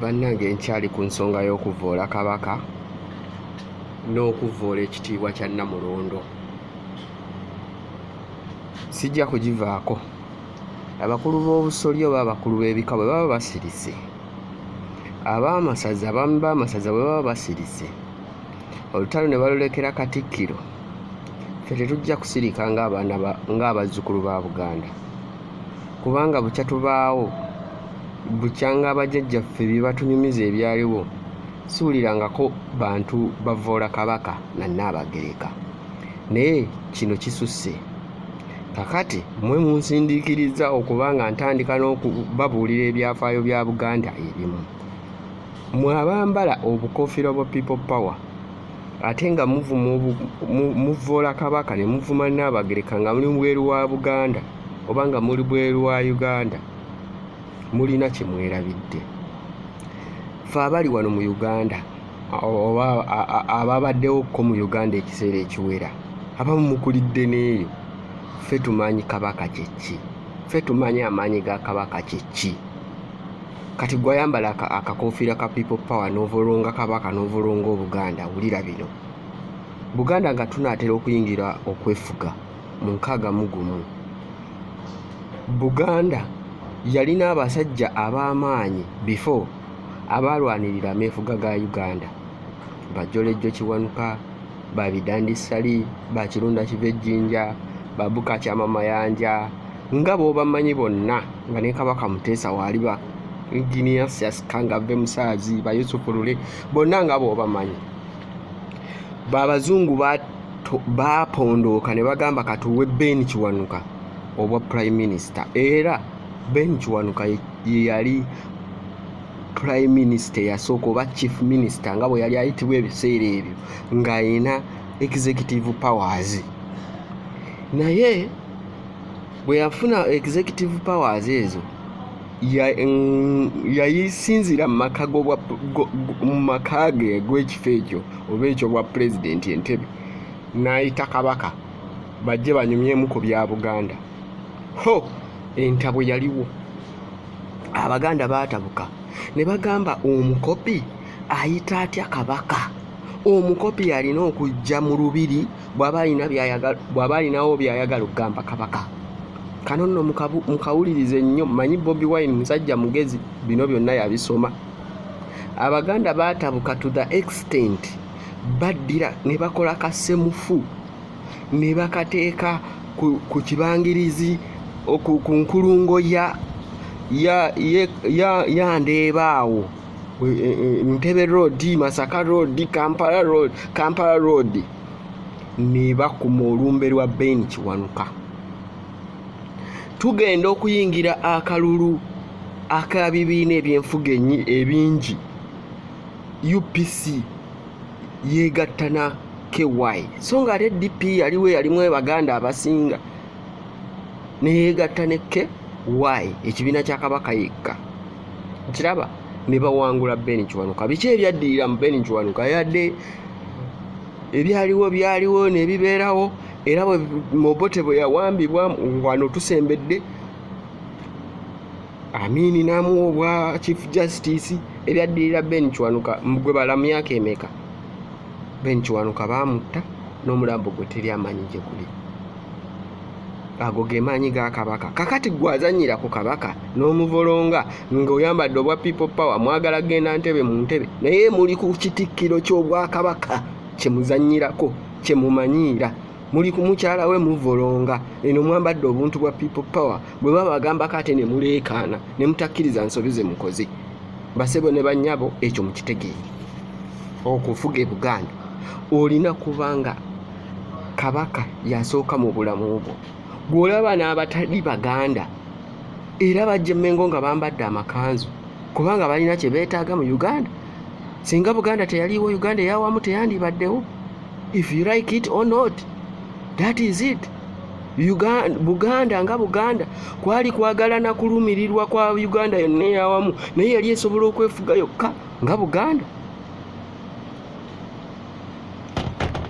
bannange nkyali ku nsonga y'okuvvoola kabaka n'okuvvoola ekitiibwa kya nnamulondo sijja kugivaako abakulu b'obusolya oba abakulu b'ebika bwe baba basirise abaamasaza abaami b'amasaza bwe baba basirise olutalo ne balulekera katikkiro ffe tetujja kusirika ng'abaana ng'abazzukulu ba buganda kubanga bukya tubaawo bukyanga bajjajjaffe bye batunyumiza ebyaliwo siwulirangako bantu bavvoola kabaka na nnaabagereka naye kino kisusse kakati mwe munsindiikiriza okuba nga ntandika n'okubabuulira ebyafaayo bya buganda ebimu mwe abambala obukofiira bwa people power ate nga muvvoola kabaka ne muvuma nnaabagereka nga muli bweru wa buganda oba nga muli bweru wa uganda mulina kye mwerabidde fe abali wano mu uganda oba ababaddewo ko mu uganda ekiseera ekiwera abamu mukulidde n'eyo fe tumanyi kabaka kyekki fe tumanyi amaanyi ga kabaka kyekki kati gwayambala akakofiira ka people power novolonga kabaka novolonga obuganda wulira bino buganda nga tunatera okuyingira okwefuga mu nkaaga mugumu buganda yalina abasajja ab'amaanyi before abaalwanirira ameefuga ga uganda bajolejjo kiwanuka babidandisali bakirunda kiva ejjinja babuka kyama mayanja nga bwobamanyi bonna nga ne kabaka muteesa waaliba enginia siasikanga ve musaazi bayusufu lule bonna nga bwobamanyi babazungu baapondooka ne bagamba katuwe ben kiwanuka obwa prime minister era ben kiwanuka yeyali prime minister yasooka oba chief minister nga bwe yali ayitibwa ebiseera ebyo ng'alina executive powers naye bwe yafuna executive powers ezo yayisinzira mu maka ge gw'ekifo ekyo oba ekyo bwa pulezidenti entebe n'ayita kabaka bajje banyumyemu ku bya buganda ho entabwe yaliwo abaganda baatabuka ne bagamba omukopi ayita atya kabaka omukopi alina okujja mu lubiri bw'aba alina byayagala bw'aba alinawo by'ayagala okugamba kabaka kano nno mukawulirize nnyo manyi bobi wine musajja mugezi bino byonna yabisoma abaganda baatabuka to the extent baddira ne bakola kasemufu ne bakateeka ku kibangirizi ku nkulungo ya ya ya ya ndeeba awo e, e, e, ntebe road masaka road kampala road kampala road nebakuma olumbe lwa ben kiwanuka tugenda okuyingira akalulu akabibiina ebyenfuga ebingi upc yegatta na ky so nga ate dp yaliwo yalimu ebaganda abasinga neyegatta ne ky ekibiina kya kabaka yekka kiraba ne bawangula ben kiwanuka biki ebyaddirira mu ben kiwanuka yadde ebyaliwo byaliwo nebibeerawo era mobote bwe yawambibwa wano tusembedde amiini n'amuwa obwa chief justice ebyaddirira ben kiwanuka gwe bala myaka emeka ben kiwanuka baamutta n'omulambo gwe teri amanyi gye guli ago ge maanyi ga kabaka kakati gwe azanyira ku kabaka n'omuvolonga ng'oyambadde obwa people power mwagala genda ntebe mu ntebe naye muli ku kitikkiro ky'obwakabaka kye muzanyirako kye mumanyiira muli ku mukyala we muvolonga eno mwambadde obuntu bwa people power bwe babagambako ate ne muleekaana ne mutakkiriza nsobi ze mukoze basebo ne bannyabo ekyo mukitegeere okufuga e buganda olina kubanga kabaka yasooka mu bulamu bwo gw'olaba n'abatali baganda era bajja emmengo nga bambadde amakanzu kubanga balina kye beetaaga mu uganda singa buganda teyaliiwo uganda eyawamu teyandibaddewo if you like it or not that is it Uganda, buganda nga buganda kwali kwagala na kulumirirwa kwa uganda yonna eyawamu naye yali esobola okwefuga yokka nga buganda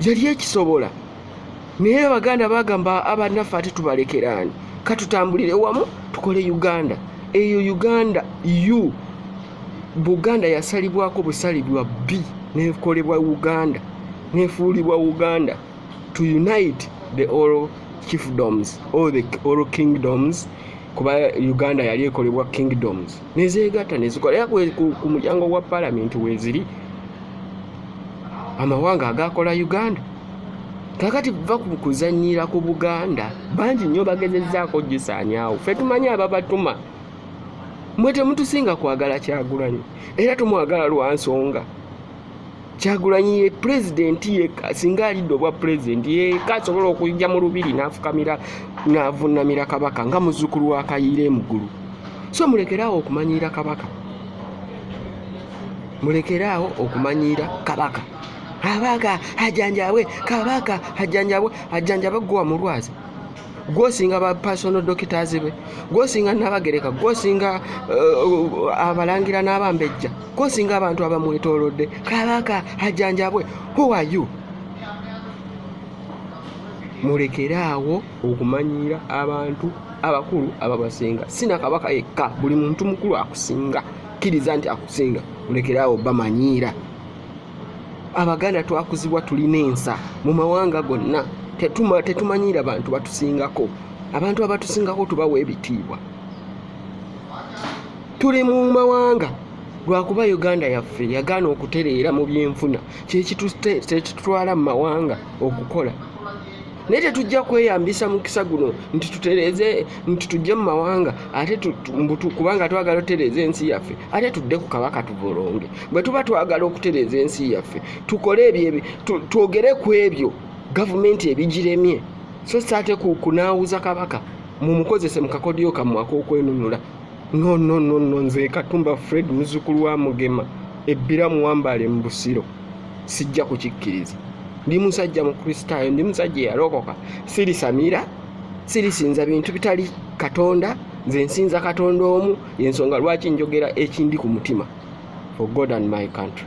yali ekisobola naye abaganda bagamba abanaffe ate tubalekeraani katutambulire wamu tukole uganda eyo uganda u buganda yasalibwako busalibwa bbi nekolebwa uganda nefuulibwa uganda to unite the all chiefdoms all the all kingdoms kuba uganda yali ekolebwa kingdoms nezeegatta nezikola era ku mulyango gwa palamenti weeziri amawanga agaakola uganda kakati va ku kuzannyira ku buganda bangi nnyo bagezezzaako gisaanyaawo fe tumanyi ababatuma mwe temutusinga kwagala kyagulanyi era tumwagala lwa nsonga kyagulanyi ye pulezidenti yekka singa alidde obwa pulezidenti yekka asobola okujja mu lubiri n'afukamira n'avunnamira kabaka nga muzzukulu wa kayiira emuggulu so mulekeraawo okumanyiira kabaka mulekeraawo okumanyiira kabaka abaga ajanjabwe kabaka ajanjabwe ajanjabwe gwe wamulwaza gwosinga ba personal doctors be gwosinga nabagereka gwosinga uh, abalangira n'abambejja gwosinga abantu abamwetolodde kabaka ajanjabwe who are you mulekere awo okumanyiira abantu abakulu ababasinga sina kabaka yekka buli muntu mukulu akusinga kkiriza nti akusinga mulekere awo bamanyiira abaganda twakuzibwa tulina ensa mu mawanga gonna tetumanyiira bantu batusingako abantu abatusingako tubawa ebitiibwa tuli mu mawanga lwakuba uganda yaffe yagaana okutereera mu byenfuna kyekitutwala mu mawanga okukola naye tetujja kweyambisa mukisa guno nti tutereze nti tujje mu mawanga ate kubanga twagala otereeza ensi yaffe ate tudde ku kabaka tuvolonge bwe tuba twagala okutereeza ensi yaffe tukole ebyo twogere ku ebyo gavumenti ebigiremye so saate kunaawuza kabaka mumukozese mukakodyo kammwe ak'okwenunula no no no no nze katumba fred muzukulu wa mugema ebbira muwambaale mu busiro sijja kukikkiriza ndi musajja mukristaayo ndi musajja eyalokoka sirisamira sirisinza bintu bitali katonda nze nsinza katonda omu yensonga lwaki njogera ekindi ku mutima for god and my country